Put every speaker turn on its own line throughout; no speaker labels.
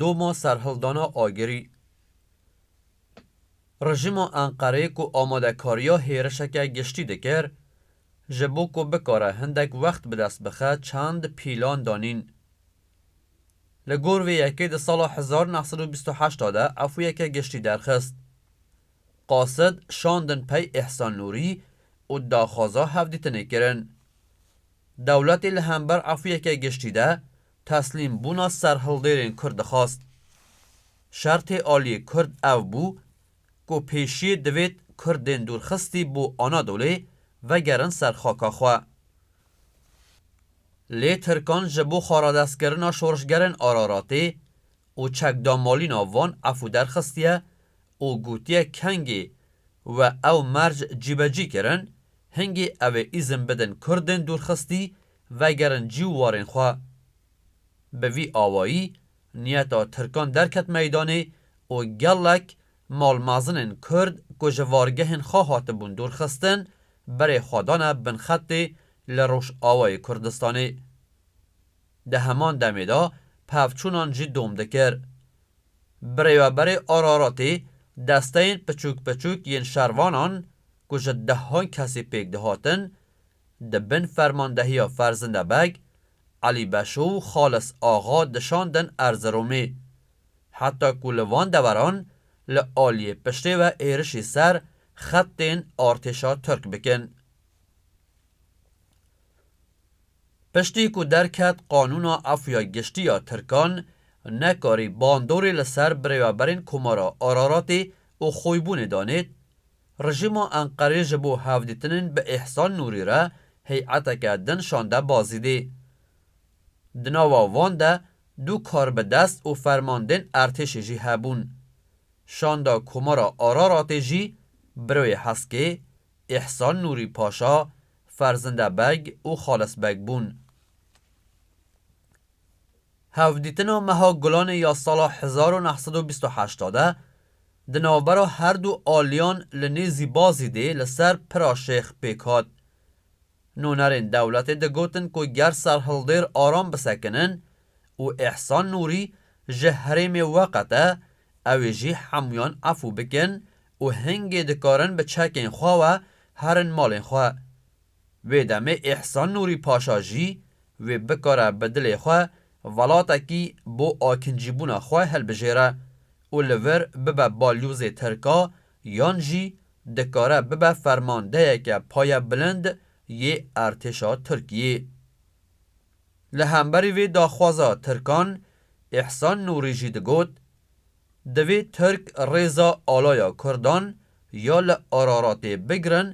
Doma serhildana Agirî, Rejîma Enqereyê ku amadekariya hêrişeke giştî dikir, Ji bo ku bikare hindek wext bi dest bixe çend pîlan danîn. Li gor vê yekê di sala hezar neh sed û bîst û heşt de efûyeke giştî derxist. Qasid şandin pey Îhsan Nûrî û daxwaza hevdîtinê kirin. Dewletê li hember efûyeke giştî de teslîm bûna serhildêrên Kurd dixwast. Şertê aliyê Kurd ev bû ku pêşiyê divêt Kurdên dûrxistî bo Anadolê vegerin ser xaka xwe. Lê Tirkan ji bo xaradestkirina şorişgerên Araratê û çekdamalîna van efû derxistiye û gotiye kengê we ew merc cîbecî kirin, hingê ew ê îzin bidin Kurdên dûrxistî vegerin cî û warên xwe. Bi vî awayî Niyeta Tirkan derket meydanê û gelek malmezinên Kurd ku ji vargehên xwe hatibûn dûrxistin, berê xwe dane bin xetê li Rojavayê Kurdistanê. Di heman demê de pevçûnan jî dom dikir. Birêveberê Araratê desteyên piçûk piçûk yên şervanan ku ji dehan kesî pêk dihatin, di bin fermandehiya Ferzinde Beg, Elî Beşo û Xalis Axa dişandin Erziromê. Heta ku li van deveran li aliyê piştê ve êrişî ser xetên artêşa Tirk bikin. Piştî ku derket qanûna efûya giştî ya Tirkan, nekarî bandorê li ser birêveberên Komara Araratê û Xoybûnê danêt, Rejîma Enqerê ji bo hevdîtinên bi Îhsan Nûrî re heyeteke din şande Bazidê. Di nava wan de du karbidest û fermandên ertêşê jî hebûn. Şanda Komara Araratê jî Birewê Heskê, Îhsan Nûrî Paşa, Ferzinde Beg û Xalis Beg bûn. Hevdîtina meha Gulanê ya sala hezar û neh sed û bîst û heşt de Di navbera her du aliyan li nêzî Bazî dê li ser Pira Şêx pêk hat. Nûnerên dewletê digotin ku ger serhildêr aram bisekinin û Îhsan Nûrî ji herêmê weqete ew ê jî hemûyan efû bikin û hingê dikarin bi çekên xwe we herin malên xwe. Wê demê Îhsan Nûrî Paşa jî wê bikare bi dilê xwe Welatekî bo akincîbûna xwe hilbijêre û li vir bibe balyozê tirka yan jî dikare bibe fermandeyeke payebilind yê Ertêşa Tirkiyê. Li hemberî vê daxwaza tirkan Îhsan Nûrî jî digot, Divê tirk rêza alaya kurdan ya li Araratê bigirin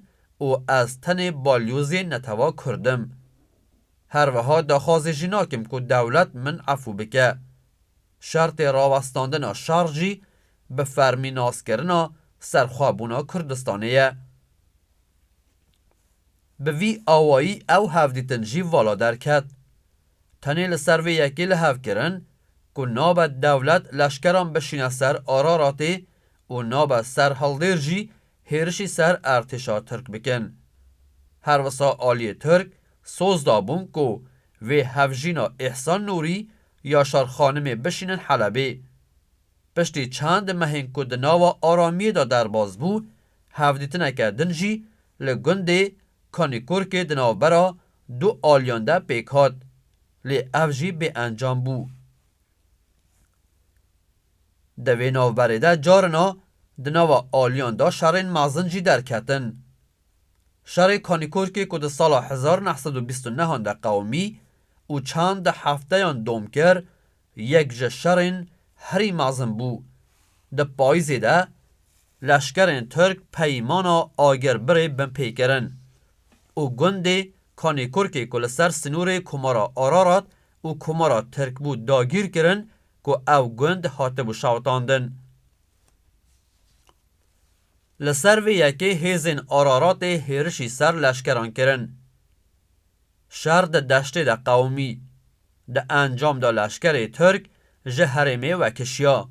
û ez tenê balyozê netewa kurd im. Her wiha daxwazê jî nakim ku dewlet min efû bike. Şertê rawestandina şer jî bi fermî naskirina serxwebûna Kurdistanê ye. Bi vî awayî ew hevdîtin jî vala derket. Tenê li ser vê yekê li hev kirin ku nabe dewlet leşkeran bişîne ser Araratê û nabe serhildêr jî hêrişî ser artêşa Tirk bikin. Her wisa aliyê Tirk soz dabûn ku vê hevjîna Îhsan Nûrî, Yaşar Xanimê bişînin Helebê. Piştî çend mehên ku di nava aramiyê de derbas bû, hevdîtineke din jî li gundê Kanikurkê di navbera du aliyan de pêk hat, lê ev jî bêencam bû. Di vê navberê de carina di nava aliyan de şerên mezin jî derketin. Şerê Kanîkorkê ku di sala hezar û neh sed û bîst û neh an de qewimî û çend hefteyan dom kir, yek ji şerên herî mezin bû. Di payîzê de leşkerên Tirk peymana Agirbirê binpê kirin û gundê Kanîkorkê ku li ser sinûrê Komara Ararat û Komara Tirk bû dagîr kirin ku ew gund hatibû şewitandin. Li ser vê yekê hêzên Araratê hêrişî ser leşkeran kirin. Şer di deştê de qewimî. Di encam de leşkerê Tirk ji herêmê vekişiya.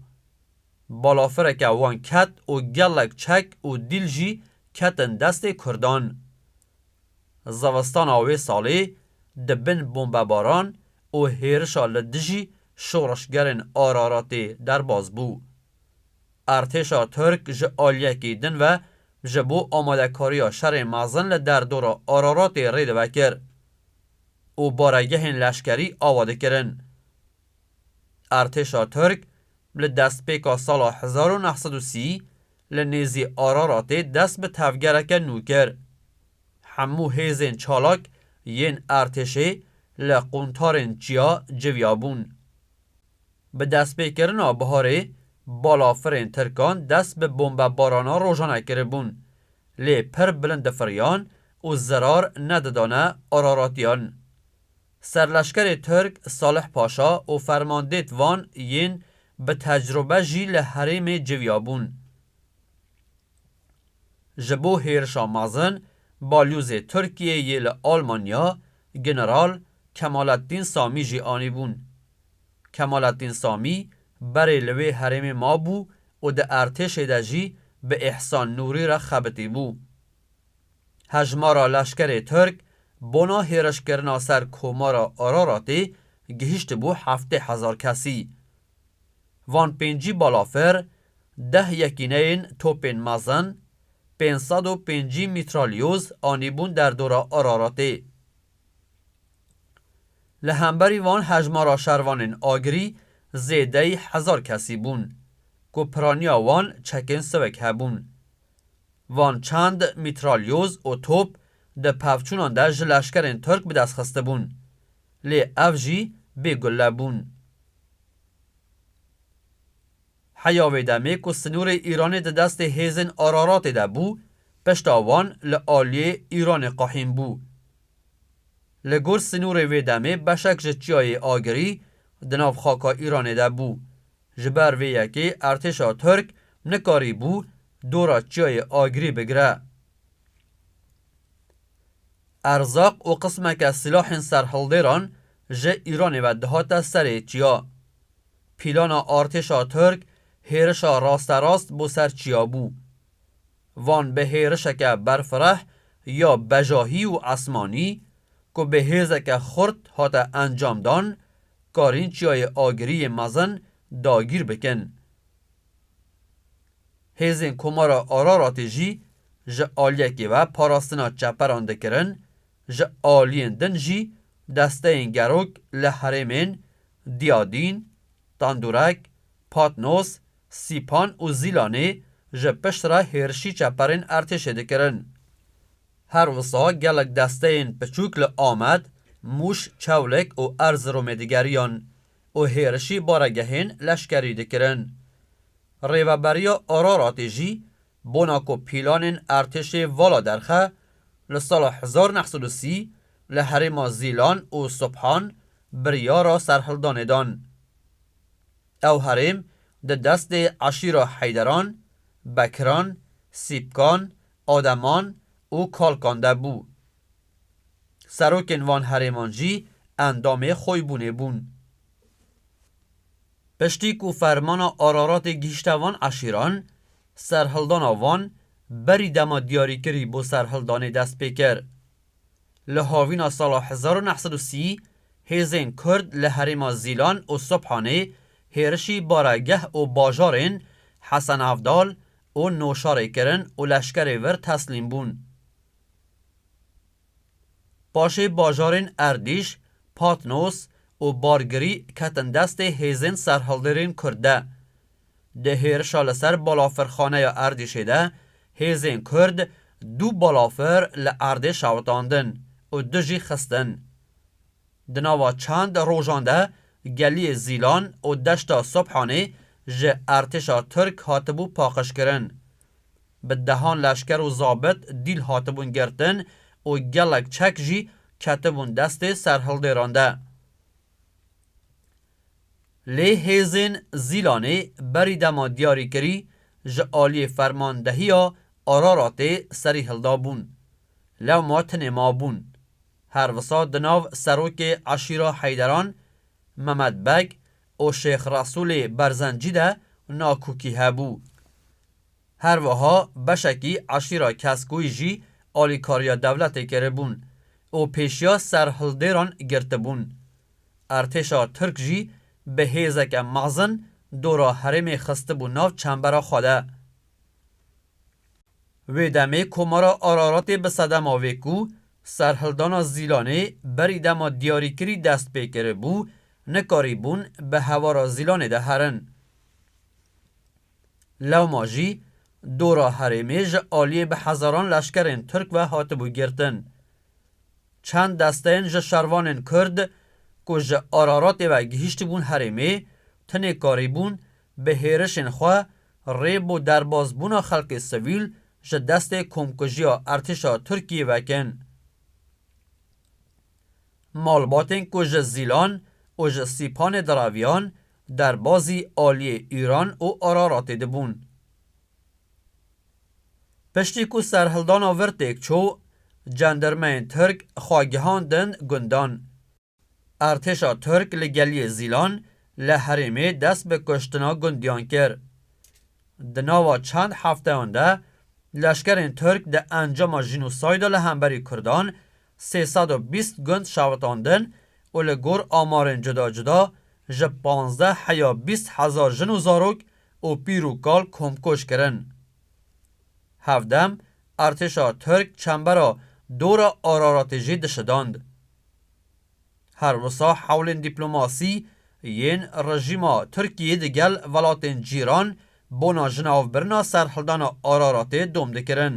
Balafireke wan ket û gelek çek û dîl jî ketin destê Kurdan. Zevestana wê salê di bin bombebaran û hêrişa li dijî şoreşgerên Araratê derbas bû. Artêşa Tirk ji aliyekî din ve ji bo amadekariya şerê mezin li derdora Araratê rê dive kir û baregehên leşkerî ava dikirin. Artêşa Tirk li destpêka sala hezar û neh sed û sî Li nêzî Araratê dest bi tevgereke nû kir. Hemû hêzên çalak yên Ertêşê li quntarên çiya civiya bûn. Bi destpêkirina biharê balafirên Tirkan dest bi bombebarana rojane kiribûn, lê pir bilind difiriyan û zirar nedidane Araratiyan. Serleşkerê Tirk Salih Paşa û fermandêt van yên bi tecrube jî li herêmê civiya bûn. Ji bo hêrişa mezin, Balyozê Tirkiyê yê li Almanya, General Kemalettin Samî jî anîbûn. Kemalettin Samî berê li wê herêmê mabû û di ertêşê de jî bi Îhsan Nûrî re xebitî bû. Hejmara leşkerê Tirk bona hêrişkirina ser Komara Araratê gihîştibû heftê hezar kesî. Van pêncî balafir, deh yekîneyên topên mezin, pênc sed û pêncî mîtralyoz anîbûn derdora Araratê. Li hemberî van hejmara şervanên agirî zêdeyî hezar kesî bûn, ku piraniya wan çekên siwek hebûn. Van çand mîtralyoz û top di pevçûnan de ji leşkerên Tirk bi dest xistibûn. Lê ev jî bê gulle bûn. Heya wê demê ku sinûrê Îranê di destê hêzên Araratê de bû, pişta wan li aliyê Îranê qehîn bû. Li gor sinûrê wê demê beşek ji çiyayê Agirî di nav xaka Îranê de bû Ji ber vê yekê artêşa Tirk nikarîbû dora Çiyayê Agirî bigire. Erzaq û qismeke silahên serhildêran ji Îranê ve dihate serê çiya. Pîlana artêşa Tirk hêrişa rasterast bo ser çiya bû. van bi hêrişeke berfireh ya bejahî û esmanî ku bi hêzeke xurt hate encamdan, karîn Çiyayê Agirî yê mezin dagîr bikin. Hêzên Komara Araratê jî ji aliyekê ve parastina çeperan dikirin, ji aliyên din jî desteyên gerok li herêmên Diyadîn, Tendurek, Patnos, Sîpan û Zîlanê ji piştre hêrişî çeperên ertêşê dikirin. Her wisa gelek desteyên piçûk li Amed, Mûş, Çewlêk û Erziromê digeriyan û hêrişî baregehên leşkerî dikirin. Rêveberiya Araratê jî bona ku pîlanên ertêşê vala derxe, li sala hezar neh sed û sî li herêma Zîlan û Subhan biryara serhildanê dan. Ew herêm di destê eşîra Heyderan, Bekiran, Sîpkan, Ademan û Kalkan de bû. Serokên van herêman jî endamê Xoybûnê bûn. Piştî ku fermana Araratê gihîşte van eşîran, serhildana van berî dema diyarîkirî bo serhildanê dest pê kir. Li havîna sala hezar û neh sed û sî hêzên Kurd li herêma Zîlan û Sobhanê hêrişî baregeh û bajarên Hesenavdal û Noşarê kirin û leşkerê vir teslîm bûn. Paşê bajarên Erdîş, Patnos û Bargirî ketin destê hêzên serhildêrên Kurd de. Di hêrişa li ser balafirxaneya Erdîşê de hêzên Kurd du balafir li erdê şewitandin û du jî xistin. Di nava çend rojan de geliyê Zîlan û deşta Sobhanê ji ertêşa Tirk hatibû paqijkirin. Bi dehan leşker û zabit dîl hatibûn girtin û gelek çek jî ketibûn destê serhildêran de. Lê hêzên Zîlanê berî dema diyarîkirî ji aliyê fermandehiya Araratê serî hilda bûn. Lewma tinê ma bûn. Her wisa di nav serokê eşîra Heyderan, Memed Beg û Şêx Resûlê Berzencî de nakokî hebû. Her wiha beşekî eşîra Keskûyî jî alîkariya dewletê kiribûn û pêşiya serhildêran girtibûn. Artêşa Tirk jî bi hêzeke mezin dora herêmê xistibû nav çembera xwe de. Wê demê Komara Araratê bi sedema vê ku serhildana Zîlanê berî dema diyarîkirî dest pê kiribû, nikarîbûn bi hevara Zîlanê de herin. Lewma jî dora herêmê ji aliyê bi hezaran leşkerên Tirk ve hatibû girtin. Çend desteyên ji şervanên Kurd ku ji Ararotê ve gihîştibûn herêmê, tenê karîbûn bi hêrişên xwe rê bo derbasbûna xelkê sivîl ji destê komkujiya Ertêşa Tirkiyê vekin. Malbatên ku ji Zîlan û ji Sîpanê diraviyan derbazî aliyê Îran û Ararotê dibûn. Piştî ku serhildana vir têk çû, cendirmeyên Tirk xwe gihandin gundan. Ertêşa Tirk li geliyê Zîlan li herêmê dest bi kuştina gundiyan kir. Di nava çend hefteyan de leşkerên Tirk di encama jînosayda li hemberî Kurdan sê sed û bîst gund şewitandin û li gor amarên cuda cuda ji pazdeh heya bîst hezar jin û zarok û pîr û kal komkuj kirin. Hevdem Artêşa Tirk çembera Dora Araratê jî dişidand. Her wisa hewlên dîplomasî yên rejîma Tirkiyê di gel welatên cîran bona jinavbirina serhildana Araratê dom dikirin.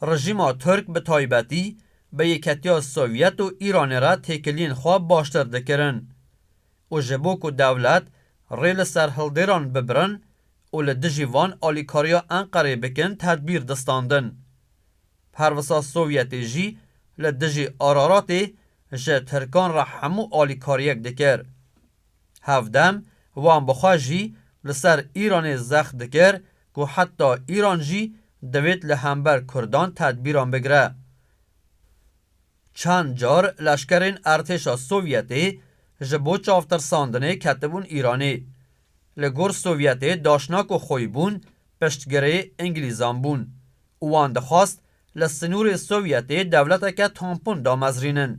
Rejîma Tirk bi taybetî bi Yeketiya Sovyet û Îranê re têkiliyên xwe baştir dikirin û ji bo ku dewlet rê li ser hildêran bibirin û li dijî van alîkariya Enqerê bikin tedbîr distandin. Pervisa Sovyetê jî li dijî Araratê ji Tirkan re hemû alîkariyek dikir. Hevdem wan bi xwe jî li ser Îranê zext dikir ku heta Îran jî divêt li hember Kurdan tedbîran bigire. Çend car leşkerên Ertêşa Sovyetê ji bo çavtirsandinê ketibûn Îranê. Li gor Sovyetê daşnak û xwî bûn piştgirê Îngilîzan bûn û wan dixwast li sinûrê Sovyetê dewleteke tampon damezrînin.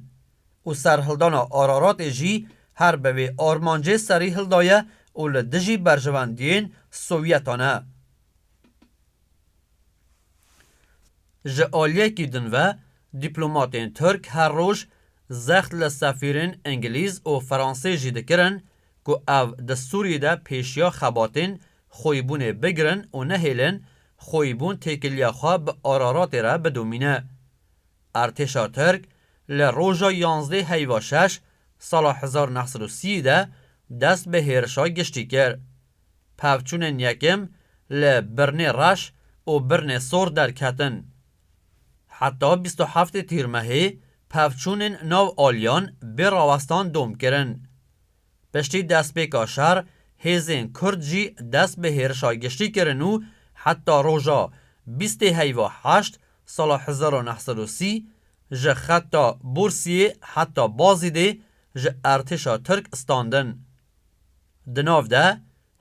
û serhildana Araratê jî her bi vê armancê serî hildaye û li dijî berjivendiyên Sowyetan e. Ji aliyekî din ve dîplomatên Tirk her roj zext li sefîrên Ingilîz û Fransî jî dikirin ku ev di Sûriyê de pêşiya xebatên xweyîbûnê bigirin û nehêlin xweyîbûn têkiliya xwe bi Araratê re bidomîne. Artêşa Tirk li roja yanzdeh heyva şeş sala hezar û neh sed û sî de dest bi hêrişa giştî kir. Pevçûnên yekem li Birnê Reş û Birnê Sor derketin. Heta bîst û heftê Tîrmehê pevçûnên nav aliyan bê rawestan dom kirin. Piştî destpêka şer, hêzên Kurd jî dest bi hêrişa giştî kirin û heta roja bîstê heyva heşt sala hezar û neh sed û sî ji xeta Bursiyê heta Bazîdê ji ertêşa Tirk standin. Di nav de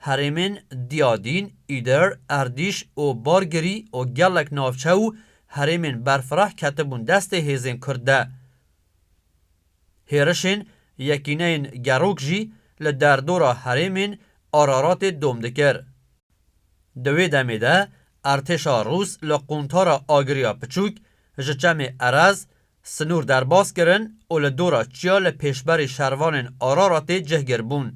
herêmên Diyadîn, Îdir, Erdîş û Bargirî û gelek navçe û herêmên berfireh ketibûn destê hêzên Kurd de. Hêrişên Yekîneyên Gerok jî li derdora herêmên Araratê dom dikir. Di wê demê de artêşa Rûs li quntara agiriya piçûk ji çemê Erez sinûr derbas kirin û li dora çiya li pêşberî şervanên Araratê cihgir bûn.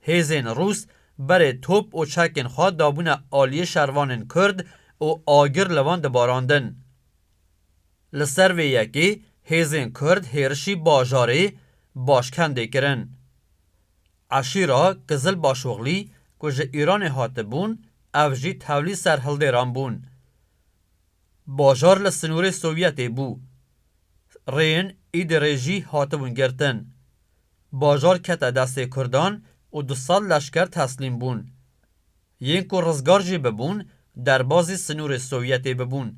Hêzên Rûs berê top û çekên xwe dabûne aliyê şervanên Kurd û agir li wan dibarandin. Li ser vê yekê hêzên Kurd hêrişî bajarê Başkendê kirin. Eşîra Kizil Başoxlî ku ji Îranê hatibûn ev jî tevlî serhildêran bûn. Bajar li sinûrê Sovyetê bû. Rêyên Îdirê jî hatibûn girtin. Bajar kete destê Kurdan û du sed leşker teslîm bûn. Yên ku rizgar jî bibûn derbazî sinûrê Sovyetê bibûn.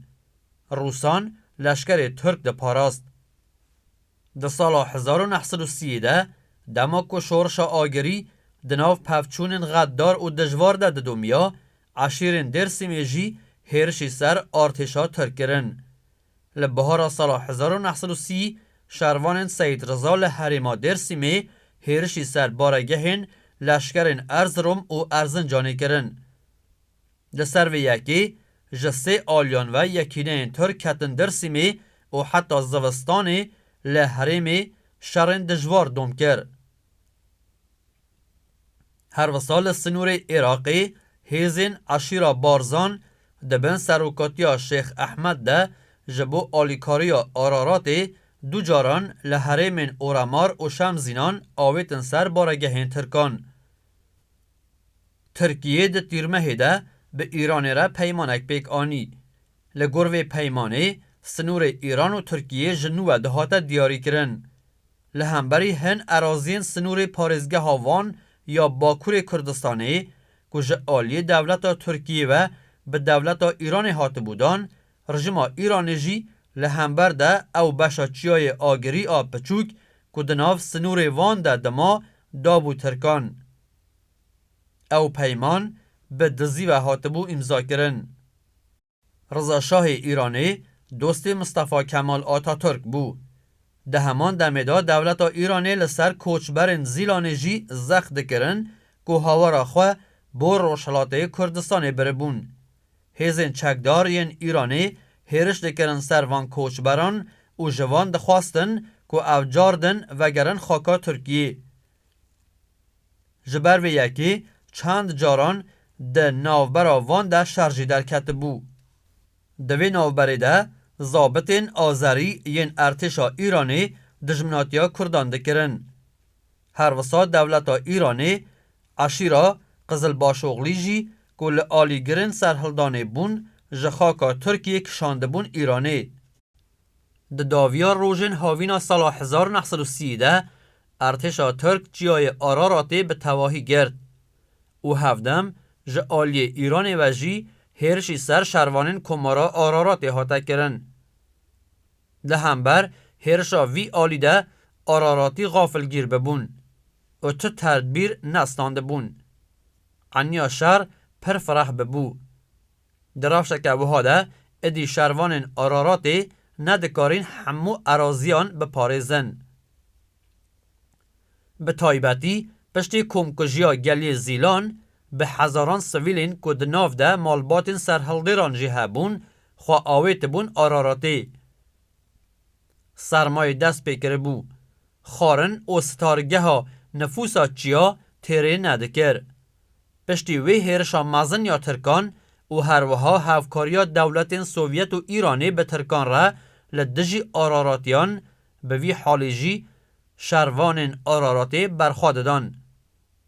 Rûsan leşkerê Tirk diparast. Di sala hezar û neh sed û sî de dema ku şorişa agirî di nav pevçûnên xetdar û dijvar de didomiya, eşîrên Dêrsîmê jî hêrişî ser artêşa Tirk kirin. Li bihara sala hezar û neh sed û sî şervanên Seyîd Riza li herêma Dêrsîmê hêrişî ser baregehên leşkerên Erzirom û Erzincanê kirin. Li ser vê yekê ji sê aliyan ve yekîneyên Tirk ketin Dirsîmê û heta zivistanê li herêmê şerên dijwar dom kir. Her wisa li sinûrê Iraqê hêzên eşîra Barzan di bin serokatiya Şêx Ehmed de ji bo alîkariya Araratê du caran li herêmên Oremar û Şemzînan avêtin ser baregehên Tirkan. Tirkiyê di Tîrmehê de bi Îranê re peymanek pêk anî. Li gor vê peymanê, sinûrê Îran û Tirkiyê ji nû ve dihate diyarîkirin. Li hemberî hin eraziyên sinûrê parêzgeha Van ya Bakurê Kurdistanê ku ji aliyê dewleta Tirkiyê ve bi dewleta Îranê hatibû dan, rijima Îranê jî li hember de ew beşa çiyayê agirî a piçûk ku di nav sinûrê Van de dima dabû Tirkan. Ew peyman bi dizî ve hatibû îmzakirin. Riza Şahê Îranê dostê Mistefa Kemal Ataturk bû. Di heman demê de dewleta Îranê li ser koçberên Zîlanê jî zext dikirin ku hawara xwe bo Rojhilatê Kurdistanê biribûn. Hêzên çekdar yên Îranê hêriş dikirin ser van koçberan û ji van dixwastin ku ev cardin vegerin xaka Tirkiyê. Ji ber vê yekê çend caran di navbera van de şer jî derketibû. Di vê navberê de zabitên azerî yên Ertêşa Îranê dijminatiya Kurdan dikirin. Her wisa dewleta Îranê eşîra Qizilbaşoglî jî ku li alîgirên serhildanê bûn ji xaka Tirkiyê kişandibûn Îranê. Di daviya rojên havîna sala hezar û neh sed û sî de Ertêşa Tirk çiyayê Araratê bi tevahî girt û hevdem ji aliyê Îranê ve jî hêrişî ser şervanên komara Araratê hate kirin. Di hember hêrişa vî alî de Araratî xafilgîr bibûn û tu terdbîr ne standibûn. Eniya şer pir fireh bibû. Di rewşeke wiha de êdî şervanên Araratê nedikarîn hemû eraziyan biparêzin. Bi taybetî piştî komkujiya gelê Zîlan bi hezaran sivîlên ku di nav de malbatên serhildêran jî hebûn xwe awêtibûn Araratê. sermayê dest pê kiribû. Xwarin û sitargeha nifûsa çiya têrê nedikir. Piştî wê hêrişa mezin ya tirkan û herwiha hevkariya dewletên Sovyet û Îranê bi tirkan re li dijî Araratiyan bi vî halê jî şervanên Araratê berxwe didan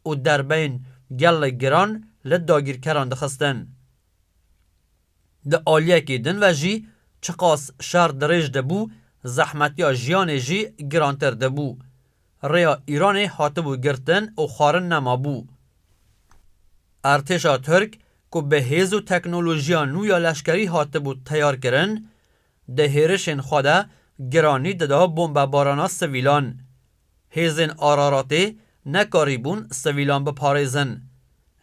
û derbeyên gelek giran li dagîrkeran dixistin. Di aliyekî din ve jî çiqas şer dirêj dibû, zehmetiya jiyanê jî girantir dibû. Rêya Îranê hatibû girtin û xwarin nemabû. Ertêşa Tirk ku bi hêz û teknolojiya nû ya leşkerî hatibû teyarkirin, Di hêrişên xwe de giranî dida bombebarana sivîlan. Hêzên Araratê nekarîbûn sivîlan biparêzin.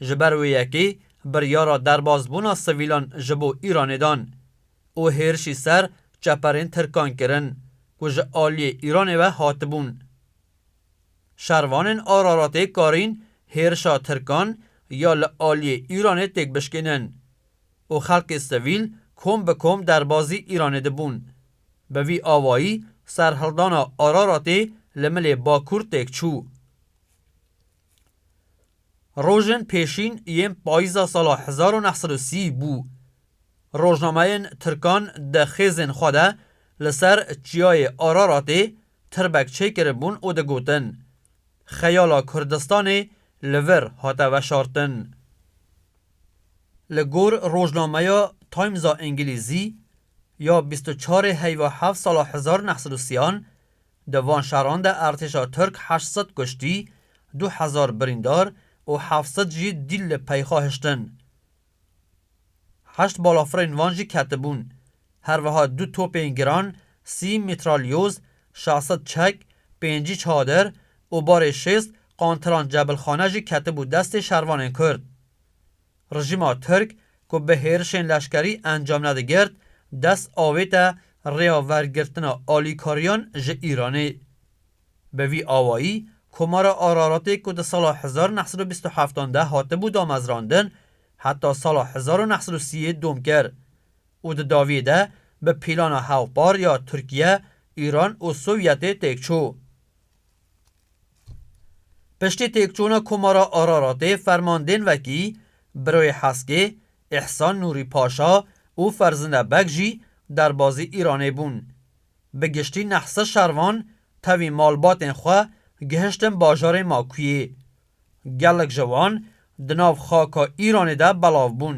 Ji ber wê yekê biryara derbasbûna sivîlan ji bo Îranê dan û hêrişî ser çeperên tirkan kirin ku ji aliyê Îranê ve hatibûn. Şervanên Araratê karîn hêrişa tirkan ya li aliyê Îranê têk bişkînin. û xelkê sivîl kom bi kom derbazî Îranê dibûn. Bi vî awayî serhildana Araratê li milê Bakur têk çû. Rojên pêşîn yên payîza sala hezar û neh sed û sî bû. Rojnameyên tirkan di xêzên xwe de li ser çiyayê Araratê tirbek çêkiribûn û digotin, Xeyala Kurdistanê li vir hate veşartin. Li gor rojnameya Timesa Îngilîzî ya bîst û çarê heyva heft sala hezar neh sed û siyan di van şeran de artêşa Tirk heşt sed kuştî, du hezar birîndar û heft sed jî dîl li peyxa hiştin. Heşt balafirên van jî ketibûn Her wiha du topên giran, sî mîtralyoz, şeş sed çek, pêncî çadir û barê şêst qantiran cebilxane jî ketibû destê şervanên Kurd. Rejîma Tirk ku bi hêrişên leşkerî encam nedigirt, dest avête rêya wergirtina alîkariyan ji Îranê. Bi vî awayî Komara Araratê ku di sala hezar û neh sed û bîst û heft an de hatibû damezrandin, heta sala hezar û neh sed û sî yê dom kir. û di dawiyê de bi pîlana hevpar ya Tirkiye, Îran û Sovyetê têk çû. Piştî têkçûna Komara Araratê fermandên wekî Biroyê Heskê, Îhsan Nûrî Paşa û Ferzinde Beg jî derbazî Îranê bûn. Bi giştî neh sed şervan tevî malbatên xwe gihiştin bajarê Makuyê. Gelek ji wan di nav xaka Îranê de belav bûn.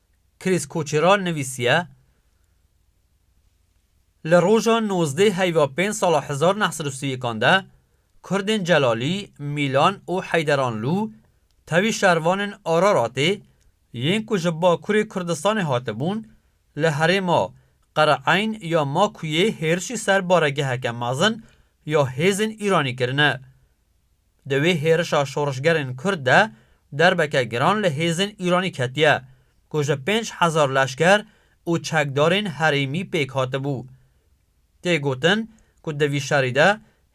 Chris Koçeral nivîsiye, Li roja nozdeh heyva pênc sala hezar neh sed û sî yekan de kurdên Celalî, Mîlan û Heyderanlû tevî şervanên Araratê yên ku ji Bakurê Kurdistanê hatibûn li herêma Qereeyn ya Makûyê hêrişî ser baregeheke mezin ya hêzên Îranî kirine. Di wê hêrişa şorişgerên Kurd de derbeke giran li hêzên Îranî ketiye ku ji pênc hezar leşker û çekdarên herêmî pêk hatibû. Tê gotin ku di vî şerî de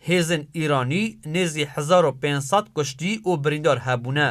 hêzên Îranî nêzî hezar û pênc sed kuştî û birîndar hebûne.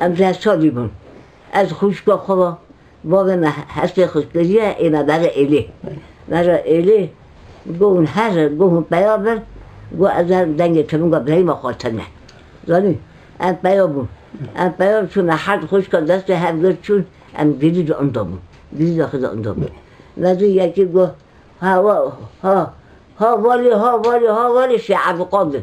Em ji Esadî bûn. Ez xwîşka xwe ve, bavê me hestê xwe kiriye ê me bere êlê. Bere êlê got hûn her got hûn peya bin, got ez ê dengê tifinga birayîma xwe tine. Zanî? Em peya bûn. Em peya li çûn me herd xwişka destê hev girt çûn, em girî di inda bûn. Girî daxê di inda bûn. Me zî yekî got ha ha ha valî ha valî ha valî Şêh Evdiqadir.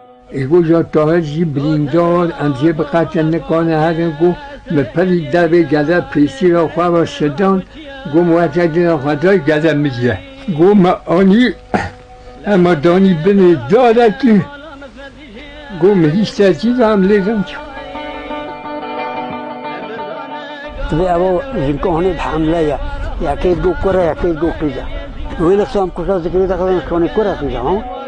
Îroja Tahir jî birîndar, em jê bi qete nikane herin ku min pir li dervê gele pêşîra xwe re şidan, got weke dina xwe dayî gele min ye. Got me anî hema danî binê darekî, got min hîştê jî da em lê rewşa. Divê ew jinka hûnê bi hemle ye, yekê got kur e, yekê got qîz e. Wê li Samkuşa zikirê de xizin şonê kur e qîz e.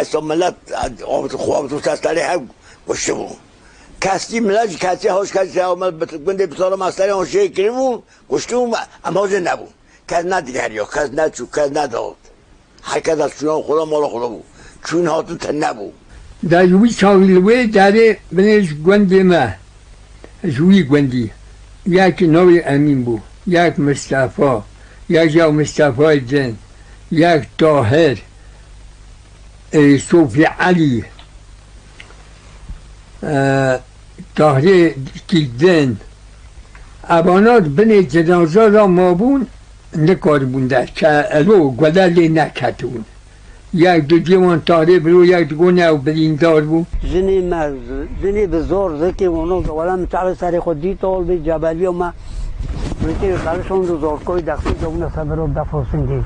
Esto milet xwe tu sesterê hev kuştibû. Kestî milet ji kestî hoj kestî se me gundê bi sala me serê hojê kiribû kuştibû em hojê nebû. Kes nedigeriya kes neçû kes nedat. Her kes ez çûna xwe de mala xwe de bû. Çûn hatin tune bû. Dayî wî çaxî li wê derê binê ji gundê me ji wî gundî yekî navê Emîn bû, yek Mistefa, yek jî ya Mistefayê din, yek Tahir, Sofî Elî, Tahirê kî din. Evana di binê cinaza de mabûn, nikaribûn derkevin, elo gude lê neketibûn. Yek di cihê wan tarê biro, yek di gonê ew birîndar bû. Jinê me, jinê bi zor zikê wano ke wela min çaxê serê xwe dî tol bî, cebeliya me zikê li serê şand û zorkoyê dexsî kewne ser biro bef û singê.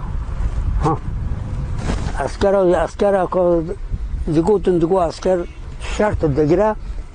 Ha! Eskera, eskera ka digotin digo esker şert digire.